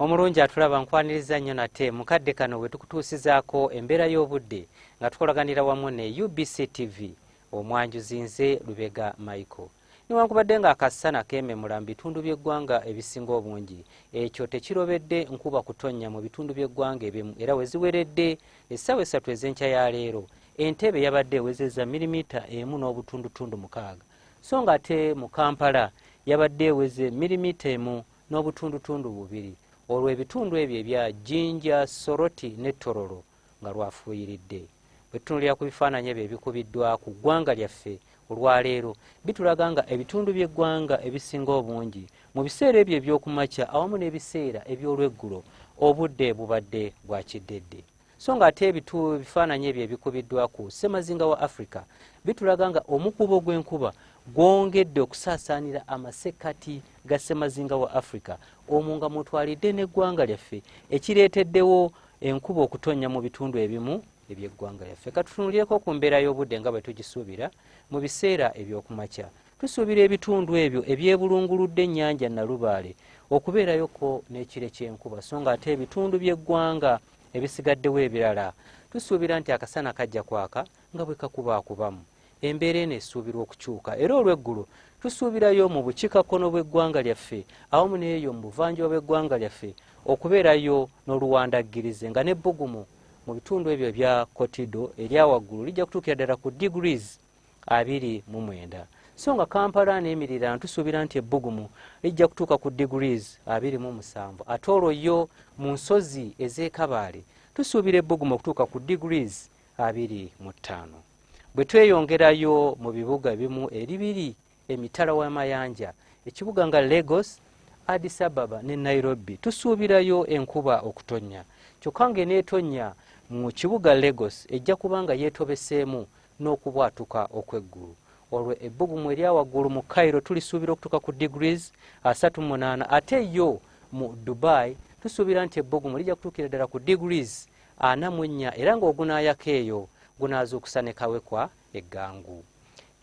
omulungi atulaba nkwaniriza nnyo nate mukadde kano bwe tukutuusizaako embeera y'obudde nga tukolaganira wamu ne ubc tv omwanjuzi nze lubega michael newankubadde nga akassana kememula mu bitundu by'eggwanga ebisinga obungi ekyo tekirobedde nkuba kutonnya mu bitundu by'eggwanga ebimu era we ziweredde essaawa essatu ez'enkya ya leero entebe yabadde ewezezza milimita emu n'obutundutundu mukaaga so ng'ate mu Kampala yabadde eweze mirimita emu n'obutundutundu bubiri olwo ebitundu ebyo ebya Jinja, Soroti ne Tororo nga lwafuuyiridde. Bwe tutunulira ku bifaananyi ebyo ebikubiddwa ku ggwanga lyaffe olwaleero bitulaga nga ebitundu by'eggwanga ebisinga obungi mu biseera ebyo eby'okumakya awamu n'ebiseera eby'olweggulo obudde bubadde bwa kiddedde. so nga ate ebitu ebifaananyi ebyo ebikubiddwa ku ssemazinga wa africa bitulaga nga omukuubo gw'enkuba gwongedde okusaasaanira amasekkati ga ssemazinga wa africa omwo nga mwotwalidde n'eggwanga lyaffe ekireeteddewo enkuba okutonnya mu bitundu ebimu eby'eggwanga lyaffe katutunulireko ku mbeera y'obudde nga bwe tugisuubira mu biseera eby'okumakya tusuubira ebitundu ebyo ebyebulunguludde ennyanja nalubaale okubeerayoko n'ekire ky'enkuba so nga ate ebitundu by'eggwanga ebisigaddewo ebirala tusuubira nti akasana kajja kwaka nga bwe kakubaakubamu embeera eno esuubirwa okukyuka era olw'eggulo tusuubirayo mu bukiikakkono bw'eggwanga lyaffe awamu n'eyo mu buvanjuba bw'eggwanga lyaffe okubeerayo n'oluwandaggirize nga n'ebbugumu mu bitundu ebyo ebya kotido erya waggulu lijja kutuukira ddala ku degrees abiri mu mwenda so nga kampala n'emirira ntusuubira nti ebbugumu lijja kutuuka ku degrees abiri mu musanvu ate olwo yo mu nsozi ez'ekabaale tusuubira ebbugumu okutuuka ku degrees abiri mu ttaano bwe tweyongerayo mu bibuga ebimu eri biri emitala w'amayanja ekibuga nga Lagos Addis Ababa ne Nairobi tusuubirayo enkuba okutonnya kyokka ng'eneetonnya mu kibuga Lagos ejja kuba nga yeetobeseemu n'okubwatuka okw'eggulu olwo ebbugumu erya waggulu mu Cairo tulisuubira okutuuka ku degrees 38 ate yo mu Dubai tusuubira nti ebbugumu lijja kutuukira ddala ku degrees 44 era ng'ogunaayaka eyo gunaazuukusa ne kawekwa eggangu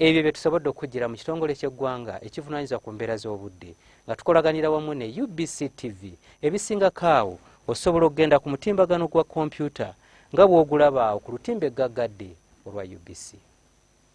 ebyo bye tusobodde okujjira mu kitongole ky'eggwanga ekivunanyizibwa ku mbeera z'obudde nga tukolaganira wamu ne ubc tv ebisingako awo osobola okugenda ku mutimbagano gwa kompyuta nga bw'ogulabaawo ku lutimba eggaggadde olwa ubc